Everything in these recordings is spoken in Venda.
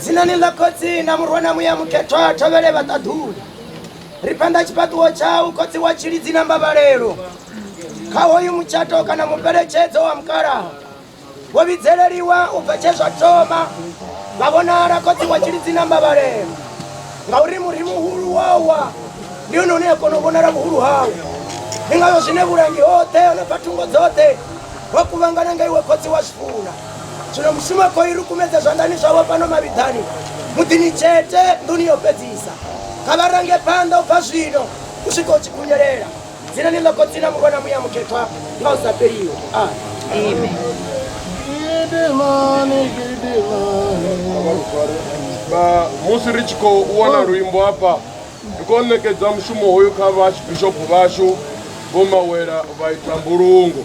dzinani ḽa khotsi na murwa na muya mukhethwa thovhele vhaṱaḓuli ri phanḓa tshifhaṱuwo tshau khotsi wa tshilidzi na mbavhalelo kha hoyu mutshato kana mubeletshedzo wa mukalaha wo vhidzeleliwa u bva tshe zwa thoma vha vhonala khotsi wa tshilidzi na mbavhalelo ngauri muri muhulu wawa ndi hone une a kona u vhonala vhuhulu hau ndi ngayo zwine vhulangi hoṱhe hone bva thungo dzoṱhe ho kuvhangana nga iwe khotsi wa zwifuna zwino mushumo a khou i rukumedza zwanḓani zwavho fhano mavhiḓani muḓini tshete nḓuni yo fhedzisa kha vha range phanḓa u bva zwino u swika u tshi khunyelela dzinani ḽa khotsi na murwa na muya mukhethwa nga u sa fheliho amen musi ri tshi khou wana luimbo hafha ri khou ṋekedza mushumo hoyu kha vhasbishopo vhashu vho mawela vha ita mbulungo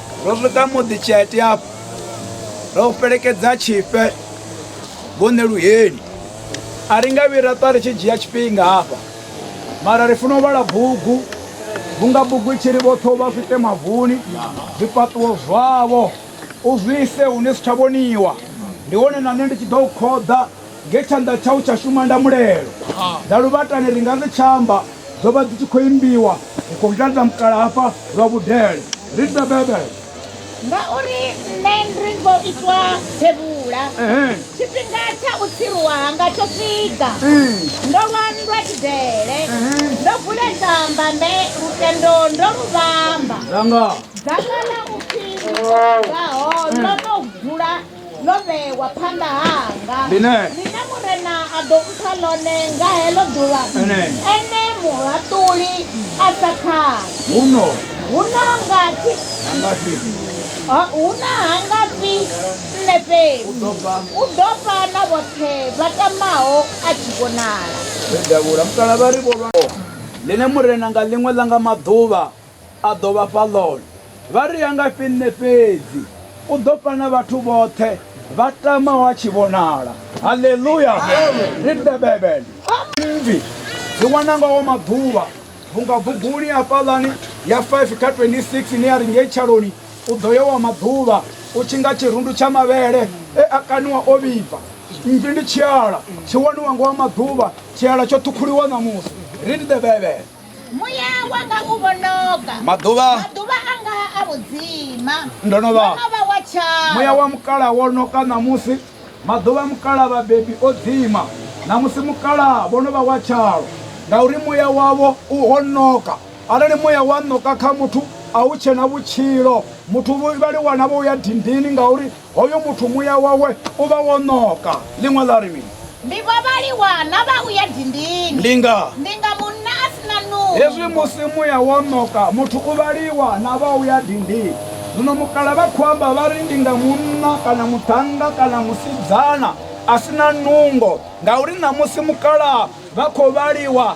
Ro swika muḓi tshete afho ro fhelekedza tshifhe vhone luheni a ri nga vhira ṱwa ri tshi dzhia tshifhinga hafha mara ri funa u vhala bugu vhunga bugu i tshi ri vhoṱhe u vha swite mavuni zwifhaṱuwo zwavho u zwise hune si tsha vhoniwa ndi hone na nṋe ndi tshi ḓo u khoḓa nge tshanḓa tshau tsha shuma nda mulelo nda luvhatani ri nga ri tshamba dzo vha dzi tshi khou imbiwa ri khou ḓadza mukala hafha lwa vhudele ri bebebe ngauri nṋe ri ngo itwa thevhula tshifhinga tsha u tsiruwa hanga tsho swika ndo lwa nndwa tshidele ndo vuledza mbambe lutendo ndo lu vhamba dzanga ḽa upfhi ngaho ndo no gula ḽo vhewa phanḓa hanga ḽine murena a ḓo mpha ḽone nga heḽo ḓuvha ene muhaṱuli a sa khani huno huno nga thi huna ha nga fi nṋe fhedzi u ḓo fha na vhoṱhe vha tamaho a tshi vhonala ḽine murena nga ḽiṅwe ḽa nga maḓuvha a ḓo vha fha ḽone. Vha ri, A ngafhi nṋe fhedzi? U ḓo fha na vhathu vhoṱhe vha tamaho a tshi vhonala. Haleluya! Read the Bible. Mmvi ri wana ngawo maḓuvha vhunga buguni hafhaḽani ya 5 kha 26 ni a ri ngei tshaloni u ḓo yo wa maḓuvha u tshi nga tshirundu tsha mavhele e a kaniwa o vhibva mmvi ndi tshiala tshi waniwa ngo wa maḓuvha tshiala tsho ṱhukhuliwa ṋamusi read the bible Muya wanga u vhonoka. Maḓuvha. Maḓuvha anga a vhudzima. Ndo no vha. Ndo no vha wa tshawe. Muya wa mukala wo noka ṋamusi. Maḓuvha mukala vhabebi o dzima. Ṋamusi mukala vho no vha wa tshalo. Ngauri muya wavho u ho noka. Arali muya wa noka kha muthu a hu tshena vhutshilo. Muthu vha li wana vho ya dindini ngauri hoyo muthu muya wawe u vha wo ṋoka ḽiṅwe ḽa ri mini ndi vha vhaliwa na vha u ya dindini ndi nga ndi nga munna a si na nungo hezwi musi muya wo ṋoka muthu u vhaliwa na vha u ya dindini zwino mukala vha khou amba vha ri ndi nga munna kana muṱhannga kana musidzana a si na nungo ngauri ṋamusi mukala vha khou vhaliwa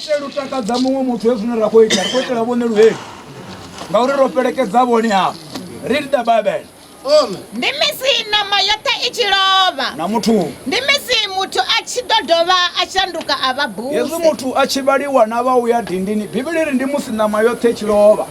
itela u takadza muṅwe muthu he zwine ra khou ita ri khou itela vhone luheli ngauri ro fhelekedza vhone hafho read the bible ndi misi ṋama yoṱhe i tshi lovha na muthu ndi misi muthu a tshi ḓo dovha a shanduka a vha buse hezwi muthu a tshi vhaliwa na vha uya dindini bivhili ri ndi musi ṋama yoṱhe i tshi lovha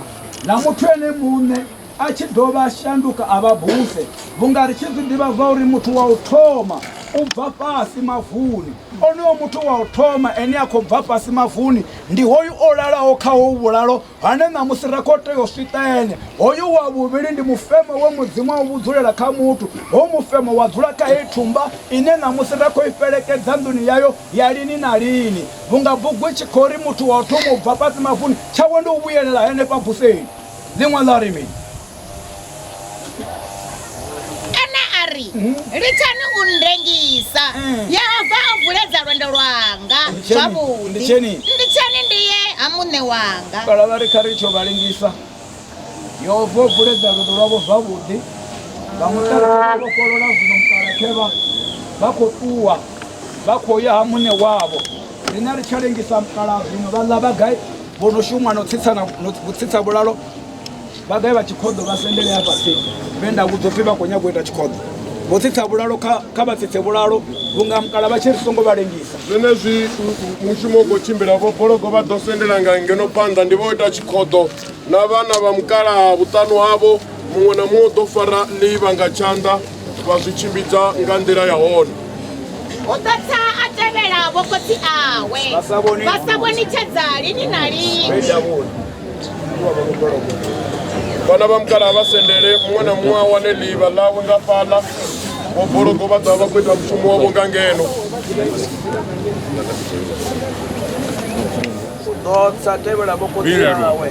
na muthu ene muṋe a tshi dovha a shanduka a vha buse vhunga ri tshi zwi ḓivha zwa uri muthu wa u thoma u bva fhasi mavuni onoyo muthu wa u thoma ene a khou bva fhasi mavuni ndi hoyu o lalaho kha ho vhulalo hane ṋamusi ra khou tea u swita ene hoyu wa vhuvhili ndi mufemo we mudzimu a u vhudzulela kha muthu ho mufemo wa dzula kha heyi thumba ine ṋamusi ra khou i fhelekedza nḓuni yayo ya lini na lini vhunga bugu i tshi khou ri muthu wa u thoma u bva fhasi mavuni tshawe ndi u vhuyelela henefha buseni ḽiṅwe ḽa ri mini ana a ri mhm. litsani u ndengisa mm. yehova o vuledza lwendo lwanga zwavhuḓi nditsheni ndi ye ha muṋe wanga kala vha ri kha ri tsho vha lengisa yehova o vuledza lwendo lwavho zwavhuḓi vha muṱaokolola zwino mukalakhevha vha khou ṱuwa vha khou ya ha muṋe wavho rina ri tsha lengisa mukala zwino vha ḽa vha gai vho no shuma no tsitsana no tsitsa vhulalo vha ḓe vha tshikhoḓo vha sendele a fhasi vhe nda vhudzo pfhi vha khou nyago u ita tshikhoḓo vho tsitsa vhulalo kha vha tsitse vhulalo vhunga mukala vha tshi ri songo vha lengisa zwenezwi mushumo u khou tshimbila vho bologo vha ḓo sendela nga ngeno phanḓa ndi vho ita tshikhoḓo na vhana vha mukala vhuṱanu havho muṅwe na muṅwe u ḓo fara ḽiva nga tshanḓa vha zwi tshimbidza nga nḓila ya hone o ḓotha a tevhela vhokhotsi awe vha sa vhonitshedza lini na lini vhana vha mukala vha sendele muṅwe na muṅwe a wane ḽivha ḽawe nga fhaḽa vho bologo vha ḓa vha khou ita mushumo wavho nga ngeno u ḓo sa tevhela vhokhotsi awe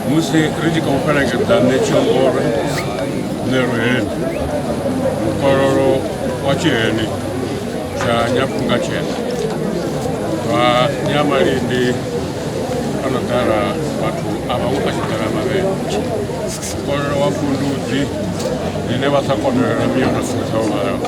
musi ri tshi khou fhelekedza ṋetshiongoro ṋeruheni mukololo wa tshiheni tsha nyafunga tshena vha nyamalindi a no ḓala vhathu a vhaṅwe a tshi ḓala mavhele mukololo wa kundudzi ḽine vha sa konolela miyo na sika tsha u vhalaho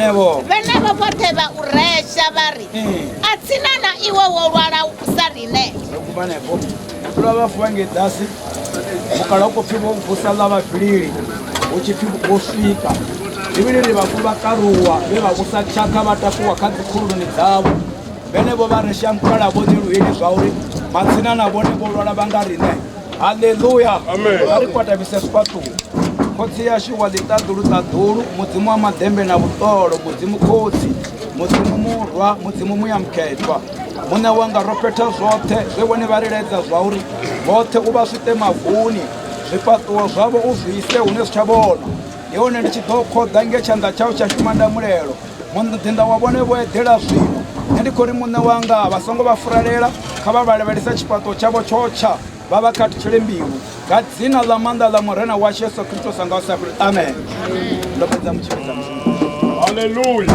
vhenevho vhenevho vhoṱhe vha u resha vha ri a tsina na iwe wo lwala u sa rine ro kubanefho vhula vha vuwa ngei dasi mukala u khou pfhi vho vusa ḽa vhafhilili hu tshi pfhi vho swika ivhili ri vhafu vha karuwa vhe vha vhusa tshakha vha takuwa kha dzikhululuni dzavho vhenevho vha ri shamukala vho ḓi luheli zwa uri matsina na vhone vho lwala vha nga riṋe haleluya vha ri kwatabise sifhaṱuwo khotsi yashu wa ḽiṱaḓulu ṱaḓulu mudzimu wa maḓembe na vhuṱolo mudzimu khotsi mudzimu murwa mudzimu muya mukhethwa muṋe wanga ro fhetha zwoṱhe zwe vhone vha ri ledza zwa uri vhoṱhe u vha swite mavuni zwifhaṱuwo zwavho u zwi ise hune zwi tsha vhona ndi hone ndi tshi ḓo khoḓa nge tshanḓa tshau tsha shuma nda mulelo muḓinḓa wa vhone vho eḓela zwino nṋe ndi khou ri muṋe wanga vha songo vha furalela kha vha vhalavhelesa tshifhaṱuwo tshavho tshotsha vha vha khathutshele mbilu nga dzina ḽa maanḓa ḽa murena washu yesu kristo sa nga u sa fheli amen ndo fhedza mutshivhidza halleluya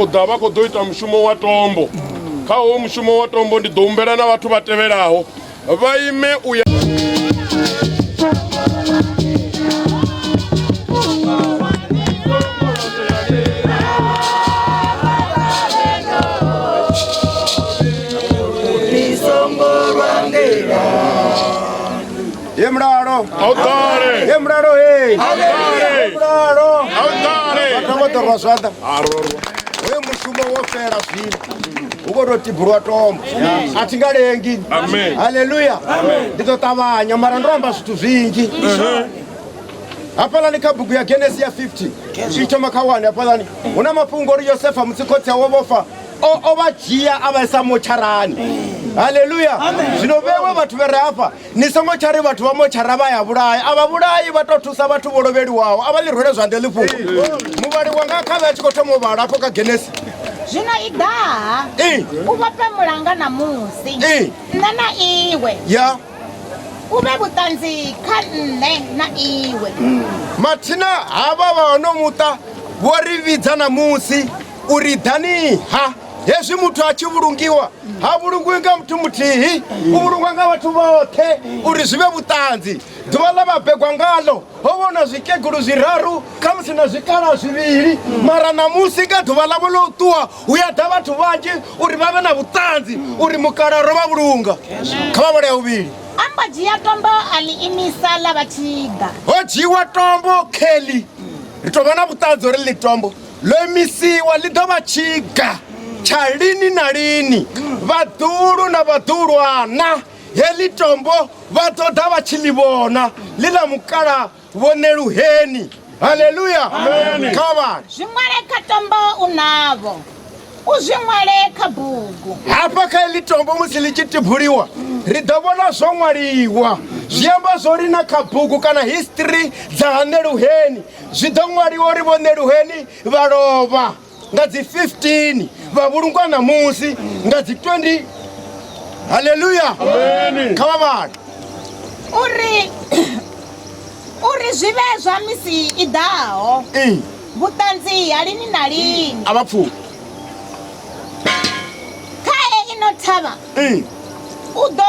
khou ḓa vha khou ḓo ita mushumo wa tombo kha howo mushumo wa tombo ndi ḓo humbela na vhathu vha tevhelaho vha ime u ya Ye mulalo. Awutale. Ye mulalo hey. Awutale. Mulalo. Awutale. Vhathu vho ḓo rwa zwanḓa. Arorwa. Hoyo mushumo wo fela zwino. Hu khou tou tibulwa tombo. A thi nga lengi. Amen. Haleluya. Ndi ḓo ṱavhanya mara ndo amba zwithu zwinzhi. hafhalani kha bugu ya genesi ya 50 zwi thoma kha 1 hafhalani hu na mafhungo uri yosefa musi khotsi awe vhofa o vha dzhia a vha isa motsharani haleluya zwino vhewe vhathu vhe re hafha ni songo tsha ri vhathu vha motshara vha ya vhulayi a vha vhulayi vha tou thusa vhathu vho lovheliwaho a vha ḽi rwele zwanḓe ḽi fhungo muvhali wanga kha vhe a tshi khou thoma u vhala afho kha genesi zwino i ḓaha u vhofhe mulanga na musi nṋe na iwe ya u vhe vhuṱanzi kha nṋe na iwe mathina havha vha hono muṱa vho ri vhidza na musi uri ḓani ha hezwi muthu a tshi vhulungiwa ha vhulungiwi nga muthu muthihi u vhulungwa nga vhathu vhoṱhe uri zwi vhe vhuṱanzi ḓuvha ḽa vhabegwa ngalo ho vhona zwikegulu zwiraru khamusi na zwikala zwivhili mara ṋamusi nga ḓuvha ḽavho ḽo ṱuwa hu ya ḓa vhathu vhanzhi uri vha vhe na vhuṱanzi uri mukala ro vha vhulunga kha vha vhole ya vhuvhili ambo dzhia tombo a ḽi imisa ḽa vha tshiga ho dzhiiwa tombo kelly ri tou vha na vhuṱanzi uri ḽi tombo ḽo imisiwa ḽi ḓo vha tshiga tsha lini na lini vhaḓulu na vhaḓulwana heḽi tombo vha ḓo ḓa vha tshi ḽi vhona ḽi ḽa mukala vhoneluheni haleluya kha vhale zwi ṅwale kha tombo u navho u zwi ṅwale kha bugu hafha kha heḽi tombo musi ḽi tshi tibuliwa ri ḓo vhona zwo ṅwaliwa zwi amba zwo ri na kha bugu kana history dza haneluheni Zwi ḓo ṅwaliwa uri vho Neluheni vha lovha nga dzi 15 vha vhulungwa ṋamusi nga dzi 20 haleluya kha vha vhale uri uri zwi vhe zwa misi i ḓaho Ee, vhuṱanzi ha lini na lini a vha pfuki khae ino thavha Ee. u ḓo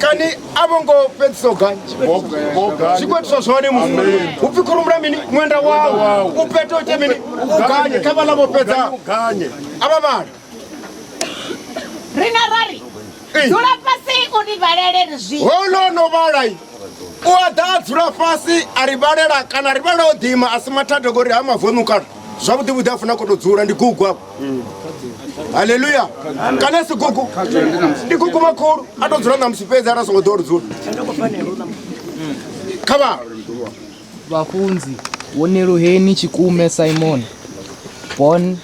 kani a vho ngo fhedzisa u ganya zwikwatiso zwone mufu u pfi khurumula mini ṅwenda wau u pete ite mini u ganye kha vhala vho fhedza a vha vhala rina rari dzula fhasi u ni vhalele ri zwi ho no no vhalai u a ḓa a dzula fhasi a ri vhalela kana ri vhalela o ḓima a si mathada ngori ha mavonu kana zwavhuḓi vhuḓi a funa ko to dzula ndi gugu afho haleluya kana si gugu ndi gugu makhulu a to dzula ṋamusi fhedzi ara songo ḓo ri dzula kha vha vhafunzi wo neluheni tshikume simon born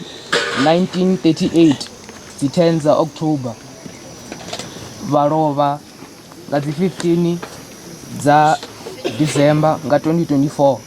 1938 dzi 10 dza october vha lovha nga dzi 15 dza december nga 2024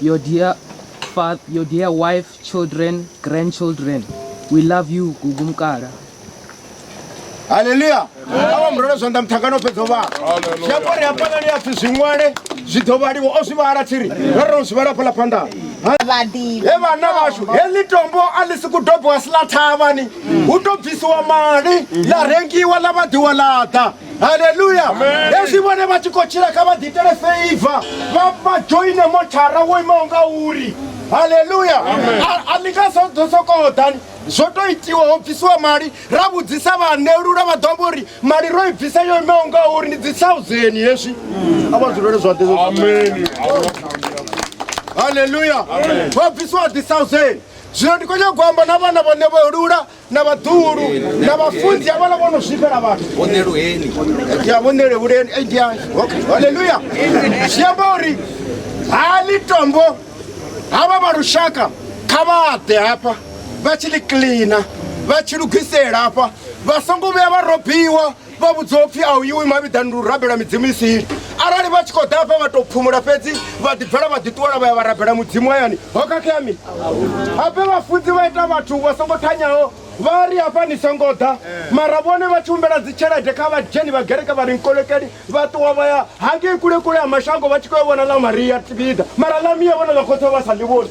your dear father, your dear wife, children, grandchildren. We love you, Gugu Mkara. haleluya awa murole zwanḓa muthangani o fhedza u vhala zwi amba uri hafhaḽa ni apfi zwi ṅwale zwi ḓo vhaliwa o zwi vhala tsiri ro ro zwi vhala fhaḽa phanḓa vhaḓivhi he vhana vhashu heḽi tombo a ḽi si ku dobiwa si ḽa thavhani hu to bvisiwa mali ḽa rengiwa ḽa vhaḓiwa ḽa ḓa haleluya hezwi vhone vha tshi khou tshila kha vha ḓiitele feiva vha joine mothara wo imaho nga uri haleluya a ni nga ḓo sokou ḓani zwo tou itiwa ho bvisiwa mali ra vhudzisa vhaanelula vha ḓo vha uri mali ro i bvisa yo imaho nga uri ndi dzi thousand hezwi a vha dzulele zwaḓe haleluya ho bvisiwa dzi thousand zwino ndi khou nyagou amba na vhana vhane vho lula na vhaḓuhulu na vhafunzi ya vhala vhono zwifhela vhathu vhoneluheni ya vhonelehuleni haleluya zwi amba uri ha ni tombo havha vha lushaka kha vha ḓe hafha vha tshi ḽi cleana vha tshi lugisela hafha vha songo vhuya vha robiwa vha vhudza upfhi a u iwi mavhiḓani ndi u rabela midzimu i siho arali vha tshi khou ḓa afha vha tou phumula fhedzi vha ḓibvela vha ḓiṱuwela vha ya vha rabela mudzimu hayani ho khakhea mini hape vhafunzi vha ita vhathu vha songo thanyaho vha ri hafha ni songo ḓa mara vhone vha tshi humbela dzitshelede kha vhadzheni vha gereke vha ri nkolekeli vha ṱuwa vha ya hangei kulekule ha mashango vha tshi khou yo vhona ḽa maria tibida mara ḽa miya vhona ḽa khotsa vha sa ḽi vhoni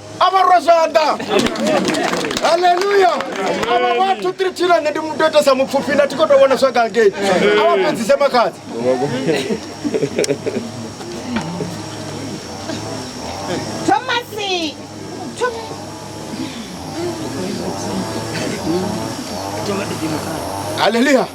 avarwa zvanḓa haleluya ava vhathu tiri tshina nṋe ndi muto itesa mupfufhi na thi kho to vhona zwagangei ava fhedzise makhadzi thomasi haleluya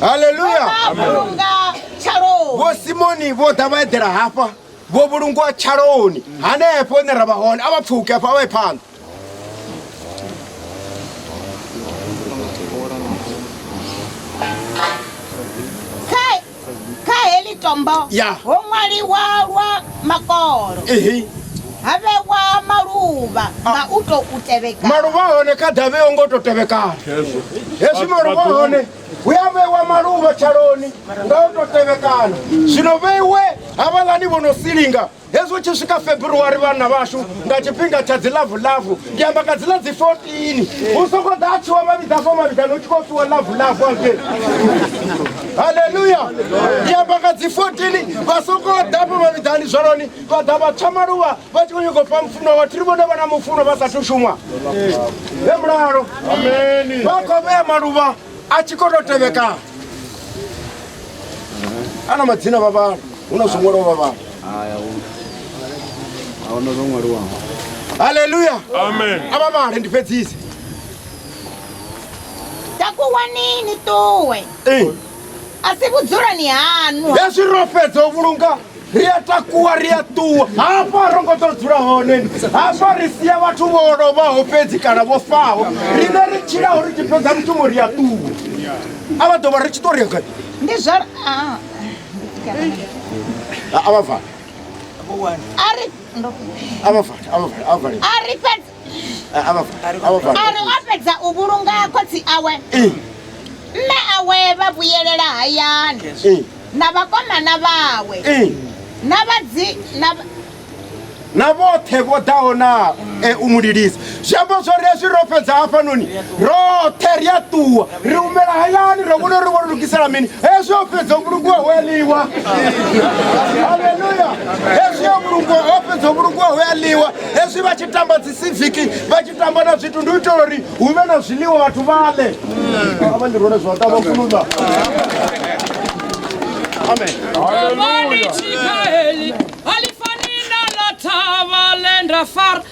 haleluya vhulunga tshaloni vho simoni vho ḓa vha eḓela hafha vho vhulungwa tshaloni hanefho hune ra vha hone a vha pfuke hafho a vha ye phanḓa kha heḽi tombo ho ṅwaliwa lwa makolo ha vhewa maluvha ah. nga u tou tevhekana maluvha hone kha davhe yo ngo tou tevhekana hezwi maluvha hone hu a vhewa maluvha tshaloni nga u tou tevhekana zwino vheiwe havhaḽani vho no silinga hezwi hu tshi swika february vhana vhashu nga tshifhinga tsha dzi lavu lavu ndi amba nga dzila dzi 14 hu songo ḓa a tshiwa mavhidza fo mavhidzani u tshi khou fiwa lavu lavu ake haleluya ndi amba nga dzi 14 vha songo ḓa fo mavhidzani zwaloni vha ḓa vha tsha maluvha vha tshi khou nyoko fha mufuno vhathu ri vhone vha na mufuno vha sathu shumwa he mulalo vha khou vhea maluvha a tshi khou tou tevhekana a na madzina vha vhala hu na zwo ṅwaliwa vha vhala ahuna zwo ṅwaliwaho haleluya amen a vha vhale ndi fhedzise takuwani ni ṱuwe a si vhudzuloni haṋu hezwi ro fhedza u vhulunga ri a takuwa ri a ṱuwa hafha ro ngo ḓo dzula hone hafha ri sia vhathu vho lovhaho fhedzi kana vho faho riṋe ri tshilaho ri tshi fhedza mushumo ri a ṱuwa a vha ḓo vha ri tshi ṱo ri gai ndi zwa ah, a vha vale a ri ndo a vha vale a vha vale a vha vale a ri fhedzi a ri o fhedza u vhulunga khotsi awe mme awe vha vhuyelela hayani na vhakomana vhawe na vhadzi na vhoṱhe vho ḓaho na e, u mu lilisa zwi amba zwori hezwi ro fhedza hafhanoni roṱhe ri a ṱuwa ri humela hayani ro vhona uri vho ri lugisela mini hezwi o fhedza vhulungu ho eliwa aleluya hezwi o vhulungu o fhedza vhulungu ho eliwa hezwi vha tshi tamba dzi siviki vha tshi tamba na zwithu ndi u itela uri hu vhe na zwiḽiwa vhathu vha ḽe avha ndi rone zwa tamba fuluda amen aleluya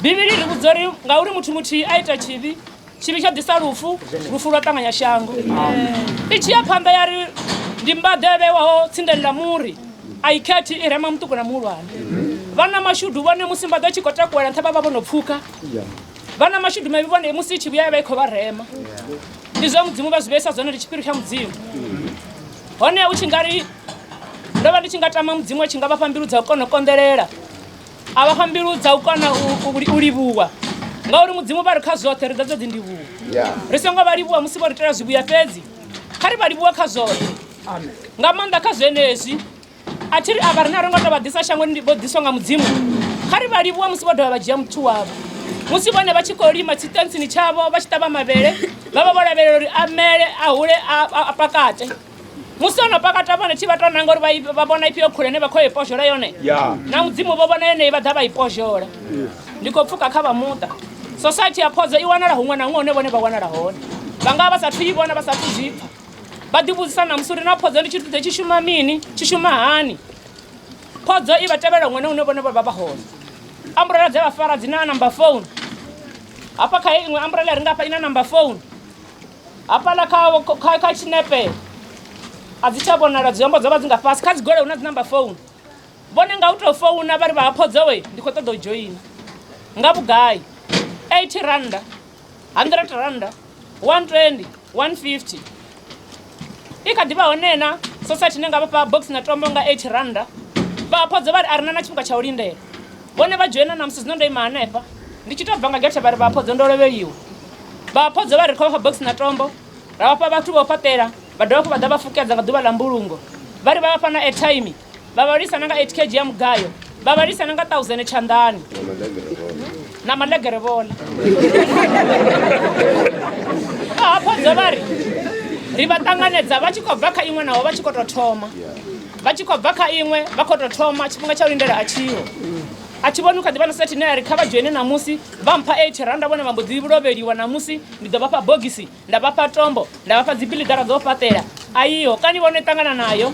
bivhili ri vhudza uri ngauri muthu muthihi a ita tshivhi tshivhi tsha ḓisa lufu lufu lwa ṱanganya shango i tshi ya phanḓa ya ri ndi mbaḓe a vhewaho tsindeni ḽa muri a i khethi i rema muṱuku na muhulwane vhana mashudu vhone musi mbaḓe tshi khou takuwela nṱha vha vha vho no pfhuka vhana mashudu mavhi vhone musi i tshi vhuya ya vha i khou vha rema ndi zwa mudzimu vha zwi vheisa zwone ndi tshiphiri tsha mudzimu hone u tshi nga ri ndo vha ndi tshi nga tama mudzimu a tshi nga vha fha mbilu dza u kona u konḓelela a vha fha mbilu dza u kona u livhuwa ngauri mudzimu vha ri kha zwoṱhe ri dza dzo ḓi ndivhuwa ri songo vha livhuwa musi vho ri itela zwivhuya fhedzi kha ri vha livhuwa kha zwoṱhe nga maanḓa kha zwenezwi a thi ri a vha ri na ri ngo tou vha ḓisa shangoni vho ḓiswa nga mudzimu kha ri vha livhuwa musi vho dovha vha dzhia muthu wavho musi vhone vha tshi khou lima tshiṱentsini tshavho vha tshi ṱavha mavhele vha vha vho lavhelela uri a mele a hule a pakate musi ono pakata vhone tshi vha tou nanga uri vha- vha vhona ifhio khule ne vha khou ya i pozhola yone Yeah. na mudzimu vho vhona yeneyi vha ḓa vha i pozhola ndi khou pfuka kha vha muṱa society ya phodzo i wanala huṅwe na huṅwe hune vhone vha wanala hone vha nga vha sa thu i vhona vha sa thu zwi pfa vha ḓivhudzisa na musi uri na phodzo ndi tshithu ḓe tshi shuma mini tshi shuma hani phodzo i vha tevhela huṅwe na hune vhone vha vha vha hone amburela dze vha fara dzi na number phone hafha kha heyi iṅwe amburela ri nga fha i na number phone hafhaḽa kha kha kha tshinepe a dzi tsha vhonala dzi hombo dzo vha dzi nga fhasi kha dzi gole hu na dzi number phone vhone nga u to founa vha ri vha haphodza we ndi kho ṱoḓa u joina nga vhugai 80 randa 100 randa 120 150 i kha ḓivha hone na society ne nga vha fha box na tombo nga 80 randa vha haphodza vha ri a rina na tshifhinga tsha u lindela vhone vha dzhoina ṋamusi zwino ndo ima hanefha ndi tshi tou bva nga gethe vha ri vhaphodzo ndo lovheliwa vhaphodzo vha ri khou vha fha bogisi na tombo ra vhafha vhathu vho fhaṱela vha dovha hafhu vha ḓa vha fukedza nga ḓuvha ḽa mbulungo vha ri vha vhafha na airtime vha vha lisa na nga 8 kg ya mugayo vha vha lisa na nga 1000 tshanḓani na malegere vhola vhaphodzo vha ri ri vha ṱanganedza vha tshi khou bva kha iṅwe naho vha tshi khou tou thoma vha tshi khou bva kha iṅwe vha khou tou thoma tshifhinga tsha u lindela a tshiho a thi vhoni u kha ḓi vha na sethe ine ya ri kha vha dzhoine ṋamusi vha mpha eight randa vhone vha mbo ḓi lovheliwa ṋamusi ndi ḓo vha fha bogisi nda vha fha tombo nda vha fha dzibiḽigara dzo fhaṱela a iho kani vhone ṱangana nayo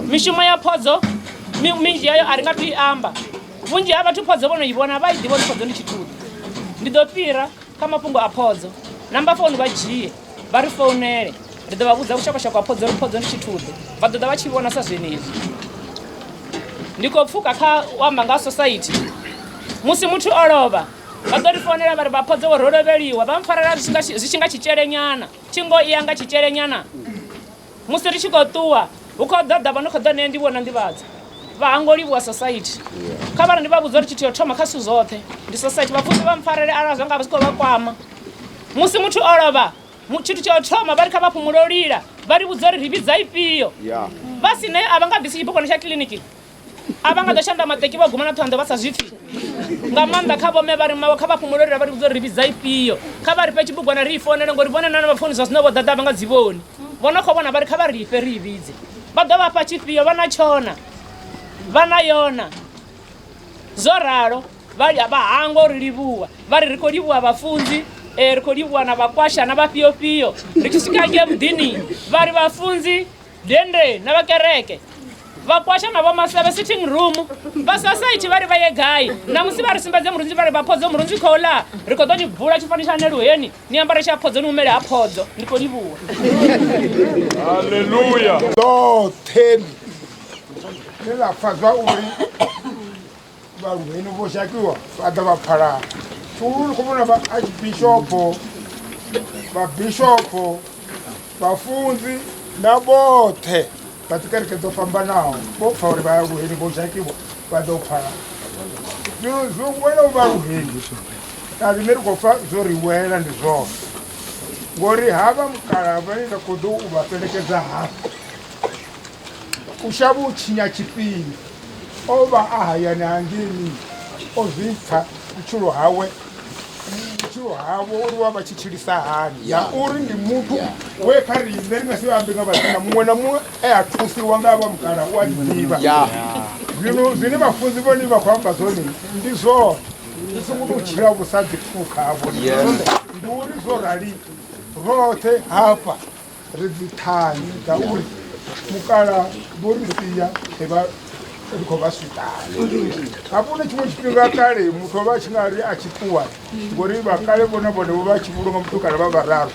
mishumo ya phodzo minzhi yayo a ri nga tu i amba vhunzhi ha vhathu phodzo vho no i vhona vha i ḓivha uri phodzo ndi tshithuḓi ndi ḓo fhira kha mafhungo a phodzo namba founu vha dzhie vha ri founele ri ḓo vha vhudza vhushakashaka ha phodzo ri phodzo ndi tshithuḓe vha ḓoḓa vha tshi vhona sa zwenezwi ndi khou pfuka kha u amba nga society musi muthu o lovha vha ḓo ri founela vha ri vha phodzo vho ro lovheliwa vha mpfarela zwi tshi nga tshitshelenyana thingo i ya nga tshitshelenyana musi ri tshi khou ṱuwa hu khou ḓa ḓa vha no khou ḓa nṋe ndi vhona nḓivhadza vha hango livhuwa society kha vhara ndi vha vhudza uri tshithu yo thoma kha zwithu zwoṱhe ndi society vhapfusi vha mpfarele arali zwa nga vha zwi khou vha kwama musi muthu o lovha tshithu tsha u thoma vha ri kha vha phumulolila vha ri vhudza uri ri vhidza ifhio vha si nayo a vha nga bvisi tshibugwana tsha kiḽiniki a vha nga ḓo shanda maṱeki vha guma na ṱhoḓa vha sa zwi pfhi nga maanḓa kha vhome vha ri mawe kha vha fhumulori ra vha ri vhudza uri ri vhidza ifhio kha vha ri fhe tshibugwana ri i founele ngori vhone nana vha founi zwa zwino vho ḓaḓa vha nga dzi vhoni vho no khou vhona vha ri kha vha ri ife ri i vhidze vha ḓo vha fha tshifhio vha na tshona vha na yona zwo ralo vha vha hangwa uri livhuwa vha ri ri khou livhuwa vhafunzi eh, ri khou livhuwa na vhakwasha na vhafhiofhio ri tshi swika ngei muḓini vha ri vhafunzi dende na vha kereke vhakwasha na vhomasevhe sitting room vha society vha ri vha ye gai namusi vha ri sumbedze murunzi vha ri vha phodzo murunzi khou ḽa ri khou ḓo ni bvula tshifani tsha neluheni ni ambare tsha phodzo ni humele ha phodzo ndi khou livhuwa halleluya ḽoṱhe ḽe ḽa pfa zwa uri vhaluheni vho shakiwa vha ḓa vha phalana fulu khou vhona vhaarchbishopo vhabishopo vhafunzi na vhoṱhe vha dzikereke dzo fhambanaho vho pfa uri vhaluheni vho shakiwa vha ḓo phalana zwino zwo wela u vhaluheni na riṋe ri khou pfa zwo ri wela ndi zwone ngori ha vha mukala vhane nda khou ḓo u vha fhelekedza hafha u shavha u tshinya tshifhinga o vha a hayani hangeni o zwi pfa vhutshilo hawe vhutshilo havho uri wa vha tshi tshilisa hani ya uri ndi muthu we kha riṋe ri nga si ambe nga vhathina muṅwe na muṅwe e a thusiwa nga vha mugala u a ḓivha zwino zwine vhafunzi vhone vha khou amba zwone ndi zwone ri songo tou tshila vhu sa ḓipfukha havho ndi uri zwo rali roṱhe hafha ri dzi ṱhanzi dza uri mukala vho ri sia ri vha ri khou vha swiṱana hafho na tshiṅwe tshifhinga kale muthu o vha a tshi nga ri a tshi ṱuwa ngori vha kale vhone vhone vho vha tshi vhulunga muthu kale vha vhararu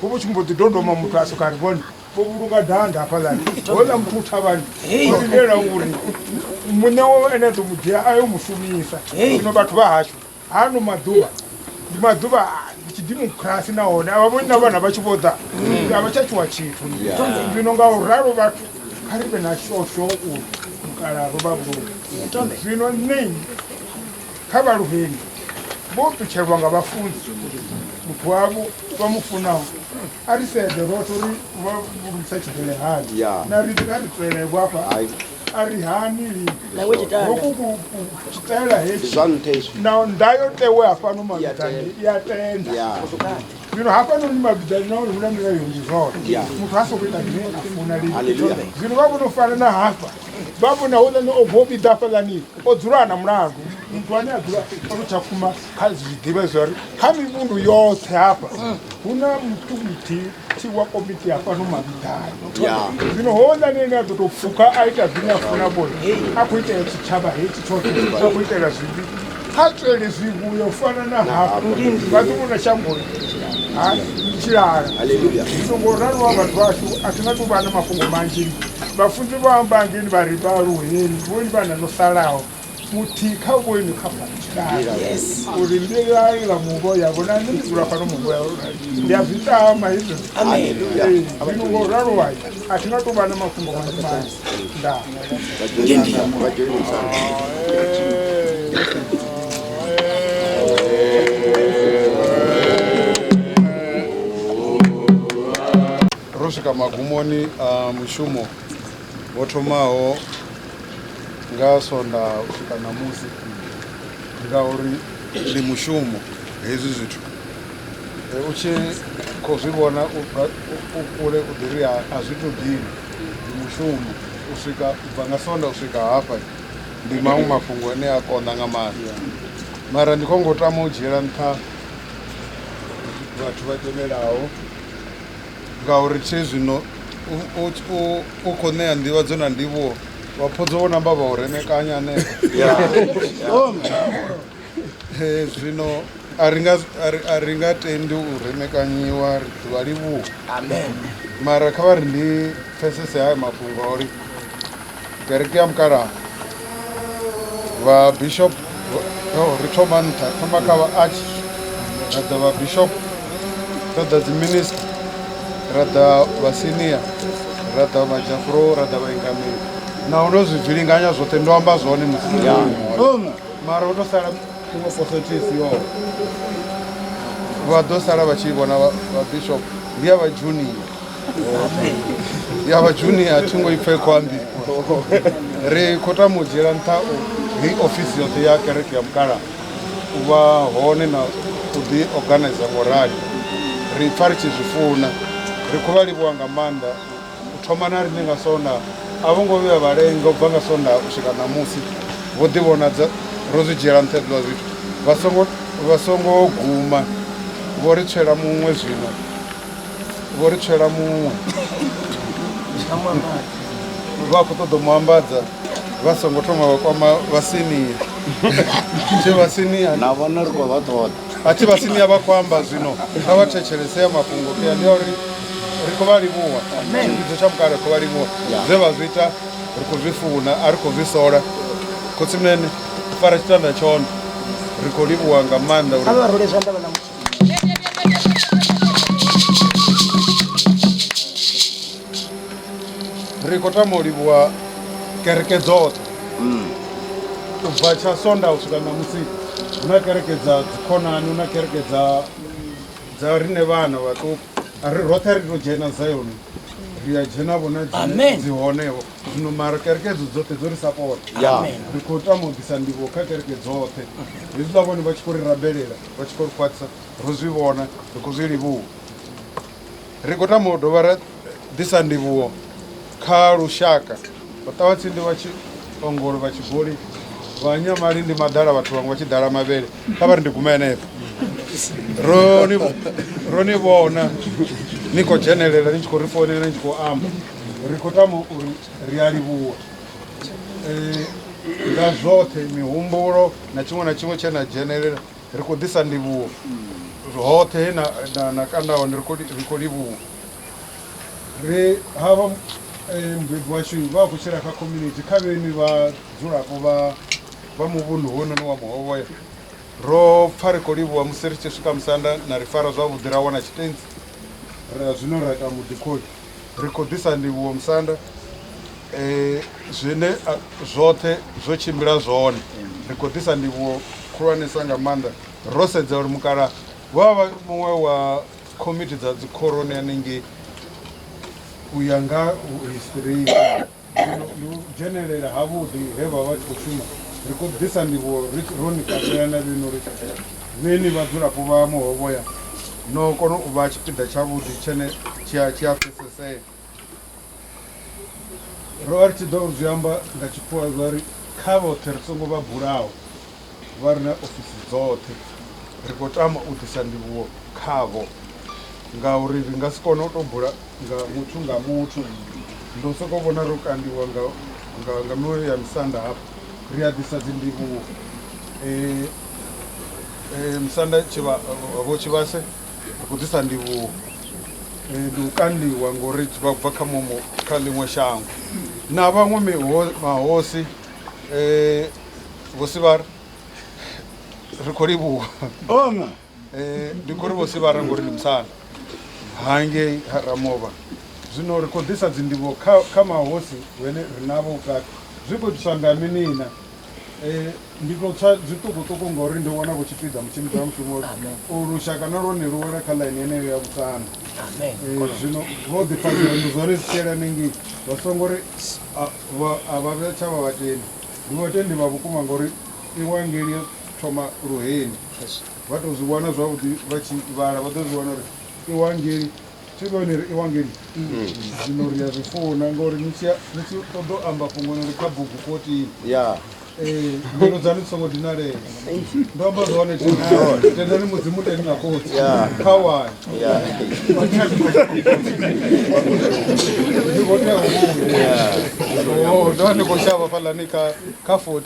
ho vha tshi mbo ḓi dodoma muthu a soka ri vhone vho vhulunga danda hafhaḽani hola muthu u thavhani o lindela uri muṋe wo ene a ḓo mu dzhia a yo mu shumisa zwino vhathu vha hashu Ano maḓuvha ndi maḓuvha a tshidimokirasi nahone a vha vhoni na vhana vha tshi vho ḓa a vha tsha tshiwa tshithu zwino nga u ralo vhathu kha ri vhe na shosho uri mukala ro vha vhulunga zwino nṋe kha vhaluheni vho ṱutshelwa nga vhafunzi muthu wavho vha mu funaho a ri sedze roṱhe uri vha vhulungisa tshibvelehali na ri a ri tswelevho afha a ri hani lini Nawe tshitanda. hoku ku- ku- ku tshitaela ndi hetshi zwa nṱha izwi na ndayotewe hafhano mavhiḓani i a tenda ya zwino hafhanoni mavhiḓani nahone hu na milayo ndi zwone Yeah. muthu ha sokou ita zwine a funa lini Hallelujah. zwino vha vhono fana na hafha vha vhona houḽani o bvo vhiḓa hafhaḽani o dzula a na mulandu muthu ane a dzula ono tsha kuma kha zwiḓivha zwa ri kha mivhundu yoṱhe hafha hu na muthu muthihi thi wa komiti ya fhano mavhiḓani ya zwino houḽani ene a ḓo tou pfuka a ita zwine a funa vhone a khou itela tshitshavha hetshi tshoṱhe a khou itela zwivhi ha tswele zwivhuya u fana na hafho vha ḓo vhona shangoni ha tshilala haleluya zwino ngo ralo wa vhathu vhashu a thi nga tou vha na mafhungo manzhi vhafunzi vha amba ngeni vha ri vhaaluheni vhoni vhana no salaho muthihi kha vho inwi kha uri mbilai ḽa muvho yavho na nṋe ndi dzula fhano muvho yavho ndi a zwi tama hezwi zwino ngo ralo wayi a thi nga tou vha na mafhungo manzhi manzhi ndaa ro swika magumoni a mushumo Vho thomaho nga Sondaha u swika ṋamusi ngauri ndi mushumo hezwi zwithu u tshi khou zwi vhona u bva u kule u ḓi ri a zwi tou dina ndi mushumo u swika u bva nga Sondaha u swika hafha ndi maṅwe mafhungo ane a konḓa nga maanḓa mara ndi khou ngo tama u dzhiela nṱha vhathu vha tevhelaho. Ngauri tshe zwino u, u, u, u khou ṋea nḓivhadzo na ndivhuwo vhaphodzo vho namba vha u remekanya hanefho Eh, zwino a ri nga a ri- a ri nga tendi u remekanyiwa ri ḓi vha livhuwa mara kha vha ri ndi pfesese haya mafhungo a uri kereke ya mukalaha vha bishop ri thoma nṱha thoma kha vha arch ra ḓa vha bishop ra ḓa dzi minister ra ḓa vha senior ra ḓa vha jafro ra ḓa vha ingameli na hu no zwi zwilinganya zwoṱhe ndo amba zwone musi mara u to sala iṅwe posotisi yo vha ḓo sala vha tshi vhona vha bishop ndi ya vha junior ya vha junior a thi ngo i pfhe khou ambiwa ri khou tama u dzhiela nṱha heyi ofisi yoṱhe ya kereke ya mukala u vha hone na u ḓi organiza ngo rali ri pfa ri tshi zwi funa ri khou vha livhuwa nga maanḓa u thoma na riṋe nga sonda a vho ngo vhuya vhalenga u bva nga sonda u swika ṋamusi vho ḓivhonadza ro zwi dzhiela nṱha hezwiḽa zwithu vha songo guma vho ri tswela muṅwe zwino vho ri tshela muṅwe vha khou ṱoḓa mu ambadza vha songo thoma vha kwama vhasinia tshe vhasinia na vhona ri khou vha ṱoḓa a thi vhasinia vha khou amba zwino kha vha thetshelese ya mafhungo kea ndi ya uri ri khou vha livhuwa tshivhidzo tsha mukale ri khou vha livhuwa zwe vha zwi ita ri khou zwi funa a ri khou zwi sola khotsimene fara tshitanda tshone ri khou livhuwa nga maanḓa uri ri khou tama u livhuwa kereke dzoṱhe mm. u bva tsha sonda u swika ṋamusi hu na kereke dza dzikhonani hu na kereke dza dza rine vhana vhaṱuku ri roṱhe ri to dzhena zayoni ri a dzhena vhona dzi honeho zwino mara kereke dzo dzoṱhe dzo ri sapota ri khou tama u ḓisa ndivho kha kereke dzoṱhe hezwiḽa vhone vha tshi khou ri rabelela vha tshi khou ri khwaṱhisa ro zwi vhona ri khou zwi livhuwa ri khou tama u dovha ra ḓisa ndivhuwo kha lushaka vha ṱavha tsindi vha tshi ongolo vha tshi goli vha nyamali ndi maḓala vhathu vhaṅwe vha tshi ḓala mavhele kha vha ri ndi gume henefho ro ni vhona ni khou dzhenelela ni tshi khou ri founela ni tshi khou amba ri khou tama uri ri a livhuwa Eh, nga zwoṱhe mihumbulo na tshiṅwe na tshiṅwe tshe na dzhenelela ri khou ḓisa ndivhuwo hoṱhe he na, na, na kanda hone ri khou li- ri khou livhuwa ri havha eh, mubebi washu vha khou tshila kha community kha vheni vha dzulapo vha vha muvhundu hounoni wa muhovhoya ro pfa ri khou livhuwa musi ri tshi swika musanda na ri fara zwavhuḓi ra wana tshitentsi ra zwino ra ita muḓikholi Ri khou ḓisa ndivhuwo musanda eh, zwine ah, zwoṱhe zwo tshimbila zwone ri khou ḓisa ndivhuwo khulwanesa nga maanḓa ro sedza uri mukala wa vha muṅwe wa komiti dza dzikhoroni hanengei u ya nga history Ndi u dzhenelela havhuḓi he vha vha tshi khou shuma. Ri khou ḓisa ndivhuwo ri ro ni katela na vhenu uri vhe ni vhadzulapo vha Muhovhoya no kona u vha tshipiḓa tshavhuḓi tshene tshi a tshi a pfesesea. Ro vha ri tshi ḓo zwi amba nga Tshikhuwa zwa ri, Kha vhoṱhe ri songo vha bulaho. vha re na ofisi dzoṱhe, ri khou tama u ḓisa ndivhuwo khavho ngauri ri nga si kone u tou bula nga muthu nga muthu. Ndo sokou vhona ro kandiwa nga nga nga miṅwe ya misanda hafha ri a ḓisa dzi ndivhuwo eh eh musanda tshivha vho tshivhase ri khou ḓisa ndivhuwo eh ndi u kandiwa ngori vha bva kha muṅwe kha ḽiṅwe shango na vhaṅwe miho mahosi eh vhosivhara ri khou livhuwa ona eh, ndi khou ri vhosivhara ngori ndi musala hangei ha ramovha zwino ri khou ḓisa dzindivho kha, kha mahosi vhene ri navho vhukati zwi khou itiswa nga minina eh, ndi tou tswa zwiṱukuṱuku ngori ndi wana vhutshipiḓa mutshimbidzi wa mushumo u lushaka na lwone lu wela kha ḽaini yeneyo ya vhusana Eh, zwino vho ḓifhadzela ndi zwone zwi tshiela nengei vha songo ri a- vha- a vha vhe tsha vha vhateni Ndi vhatendi vha vhukuma ngauri Ivangeli yo thoma luheni. Vha tou zwi wana zwavhuḓi vha tshi vhala vha ḓo zwi wana uri Ivangeli, thi vha ni ri Ivangeli? Zwino ri a zwi funa ngauri ni tshi ni tshi ṱoḓa u amba fhungo ni ri kha bugu 14. Ee, mbilu dzaṋu dzi songo dinalea. ndo amba zwone tendani mudzimu teni na khotsi kha wani ndi khou tea u vhuya Oh, ndo vha ndi khou shavha fhalani kha kha 14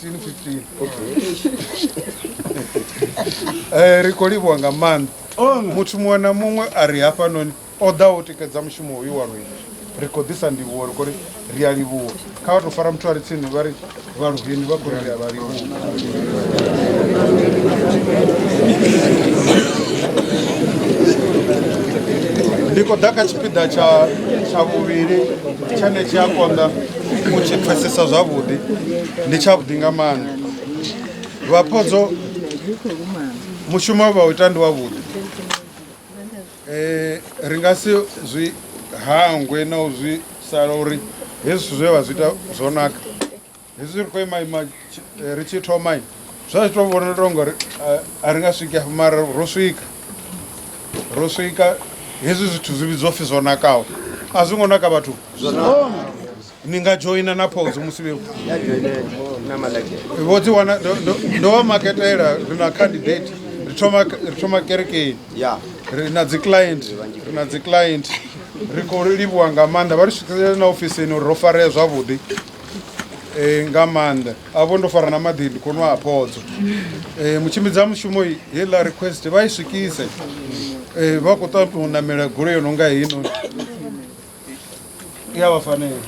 15 Eh, ri khou livhuwa nga maanḓa muthu muṅwe na muṅwe a ri hafhanoni O ḓaho u tikedza mushumo hoyu wa Rwindo ri khou ḓisa ndivhuwo, ri khou ri ri a livhuwa. Kha vha tou fara muthu a re tsini vha ri, Vha Luheni vha khou ri ri a vha livhuwa. Ndi khou ḓa kha tshipiḓa tsha tsha vhuvhili tshane tshi a konḓa u tshi pfesesa zwavhuḓi ndi tshavhuḓi nga maanḓa vhaphodzo mushumo vha u ita ndi wavhuḓi Ri nga si zwi hangwe na u zwi sala uri hezwi zwithu zwe vha zwi ita zwo naka hezwi ri khou ima ima ri tshi thoma zwa zwi tou vhonala tou ngori a ri nga swiki afho mara ro swika ro swika hezwi zwithu zwi vhidzwa upfhi zwo nakaho a zwi ngo naka vhathu zwo naka ni nga dzhoina na phodzo musi vhe vho dzi wana ndo vha maketela ri na candidate ri thoma ri thoma kerekeni ri na dzi client ri na dzi client ri khou livhuwa nga maanḓa vha ri swikisele na ofisini uri ro farea zwavhuḓi um nga maanḓa a vho ndo fara na maḓi ndi khou nwa a phodzo um mutshimbidzi a mushumo heiḽa request vha i swikise um vha khou ṱaṱa u namela goloi yo no nga heinoni i a vha fanela